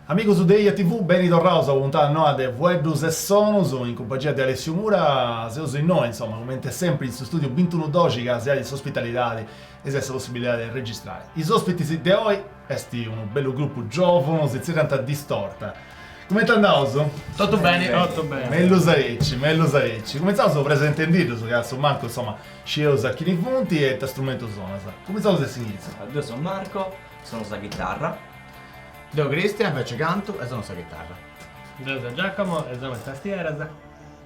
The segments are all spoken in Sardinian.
Amigos de Ia TV, beni torraus a una puntada noa de Fueddus e Sonus, in cumpangia de Alessiu Mura. Seus innoi, insoma, comente sempri, in s'istùdiu bintunudoxi ca si donat s'ospitalidadi e si donat sa possibilidadi de registrai is òspitis de oi. Est unu bellu grupu giòvunu, si tzerriant Distorta. Cumenti andaus? Totu beni, totu beni. Mellus aici, mellus aici. Cumentzaus presentendiddus ca a su mancu, insoma, scieus a chini funt e ita strumentu sonas. Cumentzaus de s'inìtziu. Deu seu Marco, sonu sa chitarra. Deu Cristian, inveci cantu e sonu sa chitarra. Deu seu Giacomo e sonu is tastieras.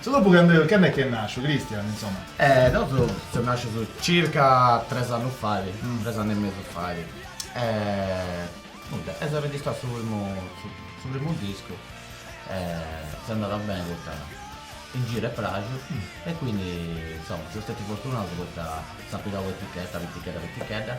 Su grupu cand'est chi est nasciu, Christian, insomma. E nosu seus nascius circa tres annus fait, tres annu e mesu fait e nudda eus arregistrau su primu su primu discu e s'est andada beni poita in giru est praxiu e quindi insomma seus stetius fortunaus poita s'at pigau un'etichetta pitichedda pitichedda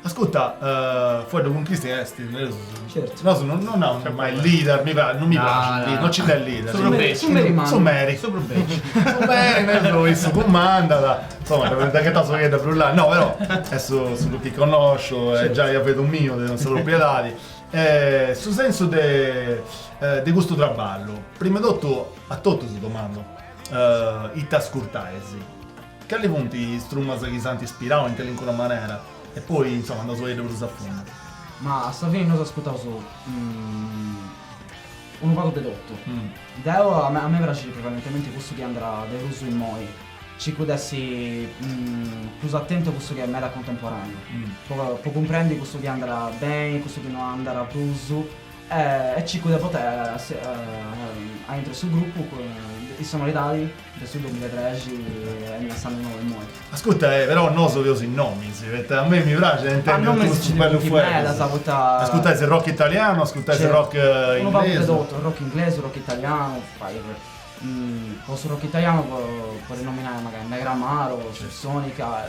Ascurta, fueddu cun Christian est, nareus, nosu non naraus mai leader, mi praxit, non mi praxit, non ci nd'est leader. Su prus beci. Su meri mandat. Su meri. Su prus beci. Su meri, nareus, issu cumandat, insoma, dda ghetau sa fuedda prus lata, no, però, est su su prus chi connòsciu e giai ia fetu miu de sa propriedadi. Su sensu de de custu traballu, prima 'e totu a totus si domandu, ita ascurtais? Cali funt is trumas chi s'ant ispirau in calincuna manera e poi, insoma, andaus a biri prus a fundu. Ma a sa fini nosu ascutaus unu pagu de totu. Deu, a mei praxit prevalentementi cussu chi andat de prus immoi, circu de essi prus atentu a cussu chi est meda contemporaneu, po cumprendi cussu chi andat beni, cussu chi no andat prus e circu de portai aintru 'e su grupu is sonoridadis De su dumilatrexi est a s'annu nou immoi. Ascurta, però nosu feus is nomis, poita a mei mi praxit a intendi totus bellus fueddus. Ascurtais rock italianu, ascurtais rock inglesu. Unu pagu de totu, rock inglesu, rock italianu, po su rock italianu podis nominai mancai Negramaro, Subsonica,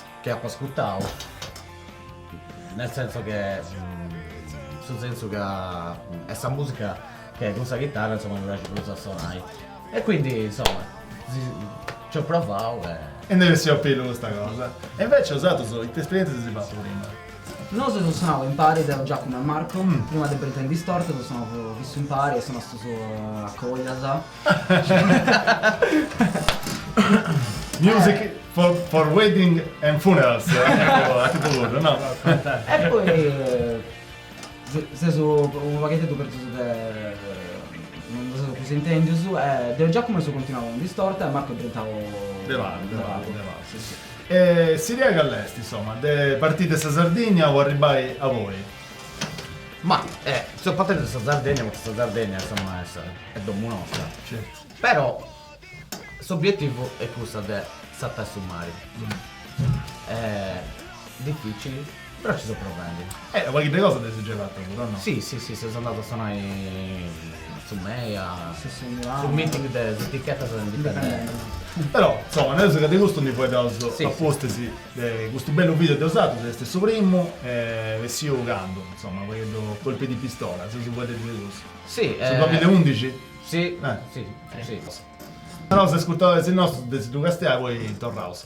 Che apo ascurtau nel senso che in su sensu ca est sa musica che cun sa chitarra insomma mi praxit prus a sonai e quindi insomma ci ho provau e. E nd'est bessia a pillu custa cosa. E invece osatrus ite esperientzia eis fatu prima? Nosu eus sonau impari deu, Giacomo e Marco, prima de Britain Distorted eus sonau fissu impari e seus connotus a coglias. Music for wedding and funerals a tipu puru no? E poi sesu unu pagheddeddu pérdius, no si seus prus intèndius, deu e Giacomo eus continuau in Distorta e Marcu est diventau de pagu, sì sì. E s'idea call'est insoma de parti de sa Sardigna o arribbai aui? Ma eh, seus partius de sa Sardegna, poita sa Sardegna insomma est est domu nostra, però s'obietivu est cussu de sartai su mari. Dificili, però ci seus provendi. Eh, unu pagheddu 'e cosa dd'eis giai fatta puru, o no? Si si si, seus andaus a sonai a su MEI, a su meeting de is etichettas indipendentis. Però, insomma, nosu de custu ndi fueddaus a pustis De custu bellu video de osatrus est su primu est bessiu candu, insoma, u pagheddu Colpo di pistola, seus fueddendi de cussu. Si. Su duamila e undixi? Si. Si. Naus a is ascurtadoris nostus de si ddu castiai poi torraus.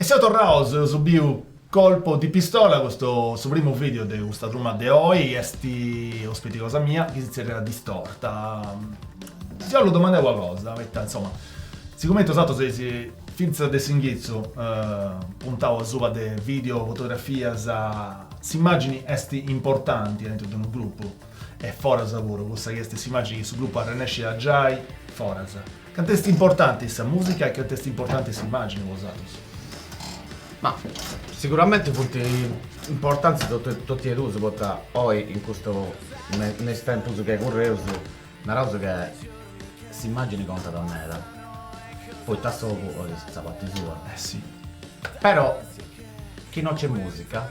E seus torraus, eus biu Colpo di pistola, custu su primu video de custa truma de oi, chi est ospiti cosa mia chi si zerriat Is Distorta. Si 'ollu domandai una cosa, poita insoma, sigumenti bosatrus eis fintzas de s'inghitzu puntau asuba de video, fotografias, s'immagini est importanti aintru de unu gruppu e foras puru, cussa chi est s'imagini chi su gruppu arrennesciat a giai a foras. Cantu est importanti sa musica e cantu est importanti s'immagini po osatrus? Ma siguramenti funt importanti totu e duus poita oi in custu in is tempus chi curreus naraus ca s'immagini contat meda poita s'ogu bolit sa parti sua. Eh si. Però chi no nc'est musica.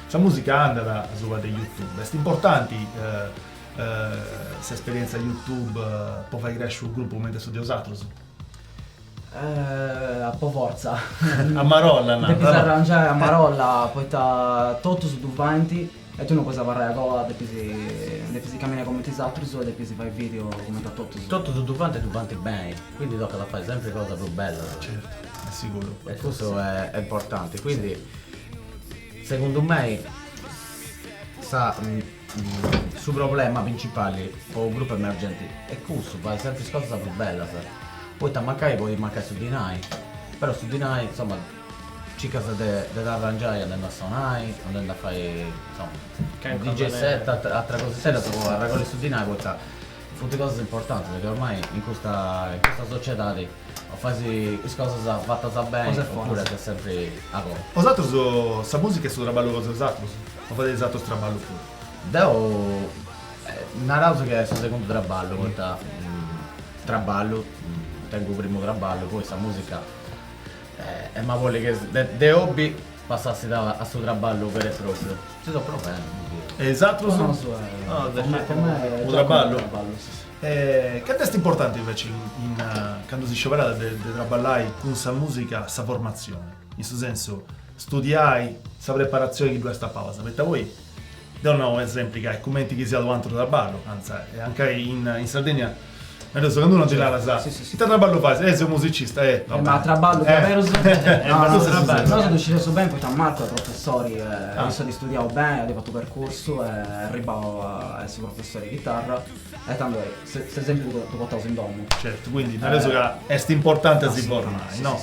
Sa musica andat asuba de youtube, est importanti s'esperienza youtube po fai cresci unu gruppu cumenti a su de osatrus? A po fortza. A marolla depis, depis arrangiai a marolla poita totus ddu fant e tui no podis abarrai a goa, depis depis caminai cumenti is atrus e depis fai video cumenti a totus. Totus ddu fant e ddu fant beni, quindi tocat a fai sempri cosas prus bellas. Certu, est siguru. E cussu est importanti, quindi Segundu mei sa su problema principali po unu grupu emergenti est cussu, fai sempri is cosas prus bellas, poita mancai podit mancai su dinai, però su dinai insoma circas de de dd'arrangiai andendu a sonai, andendu a fai insoma DJ set e atras cosixeddas po arregolli su dinai poita funt cosas importantis chi ormai in custa in custa sociedadi o fais is cosas fatas beni o puru ses sempri a goa. Po osatrus sa musica est su traballu cosa 'e osatrus o fadeis atru traballu puru? Deu naraus chi est su segundu traballu poita traballu tengu u primu traballu poi sa musica emu a bolli chi de hobbi passessit a su traballu beru e propriu. Ci seu provende. E is atrus? U traballu? E cant'est importante invece candu si scioberat de trabballai cun sa musica sa formatzione, in su sensu studiai sa preparatzione chi ddu est a palas, poita poi deu nau sempri ca est cumenti chi siat u' antru trabballu, anzi anche in Sardegna nareus candu unu ti narat ita trabballu fais, eh seu musicista, eh va bene, ma trabballu diaderus nosu ddu scideus beni poita Marco est professori e issu at studiau beni, at fatu percursu est arribau a essi professori de chitarra E tando est, ses sempru totu portaus in domu. Certu, quindi nareus ca est importanti a si formai, no?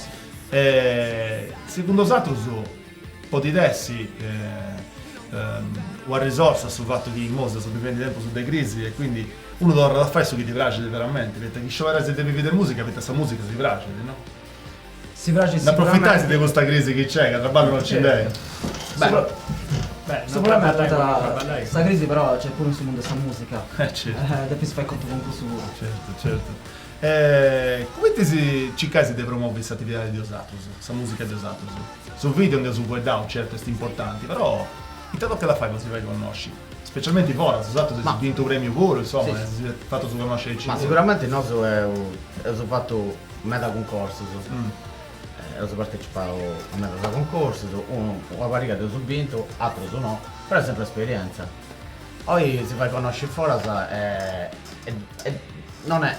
Segundu osatrus podit essi una risorsa su fatu chi imoi seus bivendi tempus de crisi e quindi unu torrat a fai su chi ddi praxit veramenti, poita chi scioberais de bivi de musica, poita sa musica si praxit, no? Si praxit sicuramente. N'approfitais de custa crisi chi nc'est, ca traballu no nci nd'est? Beh, sicuramente sa crisi però nc'est puru in su mundu 'e sa mùsica. Eh certu. Depis fai contu cun cussu puru. Certu, certu. E cumenti circais de promovi s'atividadi de osatrus, sa mùsica de osatrus? Su video nd'eus fueddau, certu, est importanti, però ita tocat a fai po si fai connosci? Specialmenti foras, osatrus eis bintu u' premiu puru, insoma, si seis fatus connosci aici puru. Ma sicuramente nosu eus fatu Meda cuncorsus, eus partecipau a medas cuncorsus, unu una pariga dd'eus bintu, atrus no, però est sempri esperienza. Poi si fai connosci foras e non est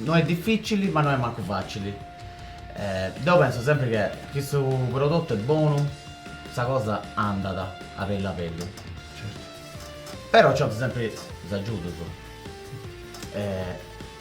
no est dificili ma no est mancu facili. Deu pensu sempri che chi su prodotu est bonu sa cosa andat a bellu a bellu. Però nci 'olint sempri is agiudus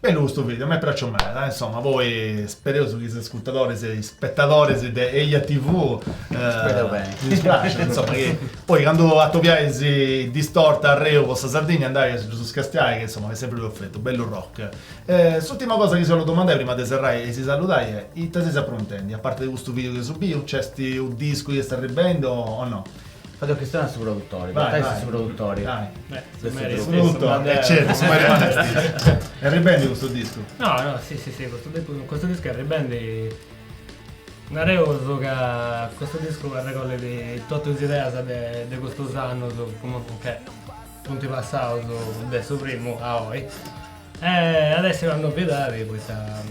Bellu custu video, m'est pràxiu meda, insoma, poi spereus chi is ascurtadoris e is spetadoris de Eja TV ddis praxat, insoma, chi poi candu atobiais Distorta arreu po sa Sardigna andais a ddus castiai, chi insoma est sempri perfetu, bellu rock E s'ùrtima cosa chi si 'ollu domandai prima de serrai e si saludai est, ite seis apruntendi, a parte de custu video chi eus biu? Nc'est unu discu chi est arribendi o no? Fait chistionai a su produtori, po fai su produtori. Su meri est issu. E certu, su meri mannu est issu. Est arribendi custu discu? No, si, custu discu est arribendi, nareus ca custu discu arregollit totu is ideas de de custus annus, chi funt passaus de su primu a oi E at bessì candu at a bessì poita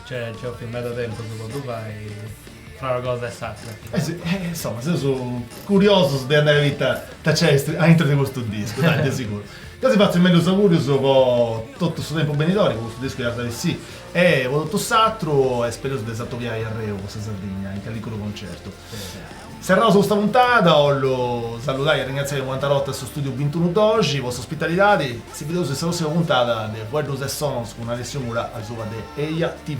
nci 'olit meda tempus po ddu fai fra una cosa e s'atra. Si, insoma seus curiosus de andai a biri ita nci est aintru de custu discu, dai, de siguru. Ca si fatzu is mellus augurius po totu su tempus benidori, po custu discu chi at a bessì e po totu s'atru e spereus de s'atobiai a reu po sa Sardigna in callicunu concertu. Serraus custa puntada, 'ollu saludai e arringraziai un'antra 'orta a su Studiu Bintunu Doxi po s'ospitalidadi. Si bideus in sa prossima puntada de Fueddus e Sonos cun Alessio Mura asuba de Eia TV.